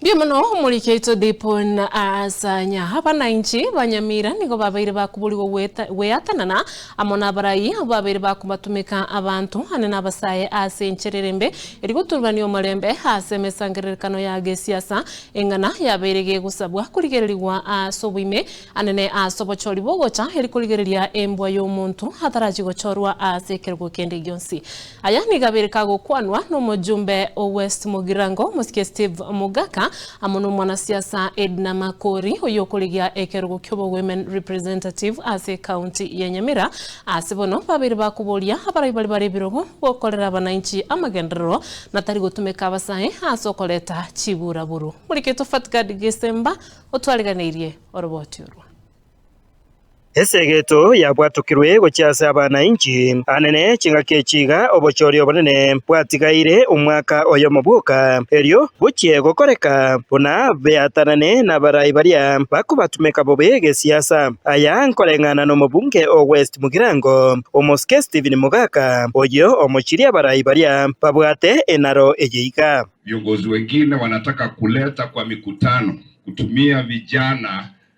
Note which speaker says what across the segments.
Speaker 1: Mbuya mono omoriki oito Dipon aasanya. Aba nainche banyamira nigo babeire bakoborigwa gweatanana amo nabarai abwo babeire bakobatomeka abanto ane nabasae aase enchera erembe erigotururania omorembe aase emesangererekano ya gesiasa eng'ana yabeire gegosabwa korigererigwa aase oboime anene aase obochori bogocha erikorigereria embwa yomonto atarachie gochorwa aase ekerogo kende gionsi. Aya nigo abereka gokwanwa nomojumbe o West Mugirango, omosike Steve Mugaka, amo nomwanasiasa Edna Makori oyokorigia ekerogo kiobo Women Representative ase County ya Nyamira. Ase bono babeire bakoboria abarai baria bare ebirogo gokorera abanainchi amagenderero na tari gotumeka abasae ase okoreta chiburaburu. Morigetwa Fatgard Gesemba otwareganeirie oroboti orwo. Esegeto
Speaker 2: yabwatokirwe gochia ase abana inchi anene chingaki echi iga, obochori obonene bwatigaire omwaka oyomo bwoka, erio gochie gokoreka buna beatanane nabarai baria bakobatumeka bobe gesiasa. Aya nkoreng'ana nomobunge o West Mugirango, omosike Stephen Mogaka, oyio omochirie abarai baria babwate enaro eye iga. Viongozi wengine
Speaker 3: wanataka kuleta kwa mikutano kutumia vijana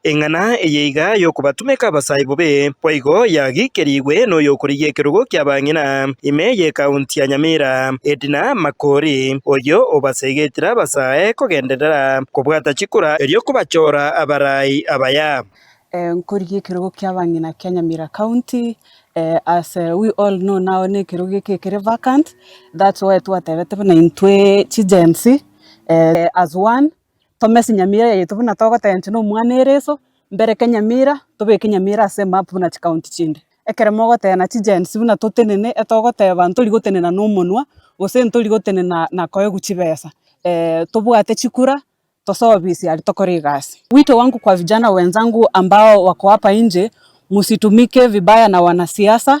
Speaker 3: Eng'ana eye
Speaker 2: iga y'okobatumeka abasaae bobe boigo yagiikerigwe n'oyokorigia ekerogo ki'abang'ina ime y'ekaunti ya Nyamira, Edna Makori, oyio obaseegetire abasaae kogenderera kobwata chikura erio kobachora abarai abaya. Nkorigia
Speaker 4: ekerogo ki'abang'ina kia Nyamira County, as we all know now nekerogo eke kere vacant, that's why twatebete buna intwe chi Gen-z as one, tomese nyamira yaito buna togotensia na omwana ereso, mbereke nyamira, tobeke nyamira ase emap buna chikaonti chinde. Ekero mogoteba na chigensi buna totenene, etogoteba ntori gotenena na omonwa, gose ntori gotenena na koegwa chibesa, tobwate chikura, tosobise aria tokore egasi. Wito wangu kwa vijana wenzangu ambao wako hapa nje, msitumike vibaya na wanasiasa,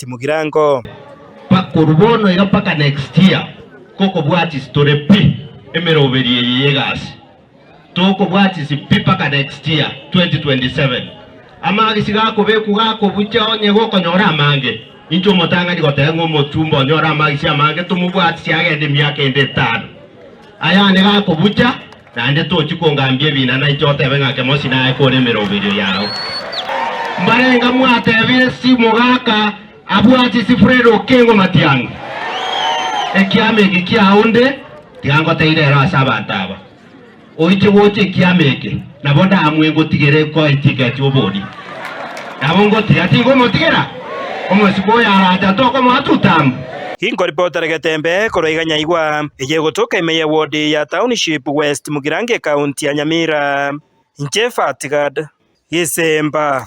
Speaker 2: timogirango. Bakoru
Speaker 5: bono iga mpaka next year gokobwatis tore pi emeroberi eye yegasi tokobwatis pi mpaka next year 2027 amagisi gakobekwa gakobucha onye gokonyora amange inche omotang'ani goteba ng'a omochumba onyore amagisi amange tomobwatisi agende emiaka ende etano ayane gakobucha Naende tochi kongambia ebina nainche otebe ng'a kemosi naye kore emeroberio yao. Mbarenga mwatebire si mogaka abwati si Fred Okengo Matiang'i. Ekiama eke kiao nde tiga ngoteire ero ase abanto aba. Oiche gocha ekiama eke nabo ndamwe ngotigere koetigeti obodi. Nabo ngotiga tinkomotigera omosibwa oyo aracha tokomoa tutambu. Inkoripa
Speaker 2: otaregete mbe korwa iga nyaigwa, eye egotoka ime ye wodi ya Township West Mugirango Ekaunti ya Nyamira. Inche Fatgard Gisemba.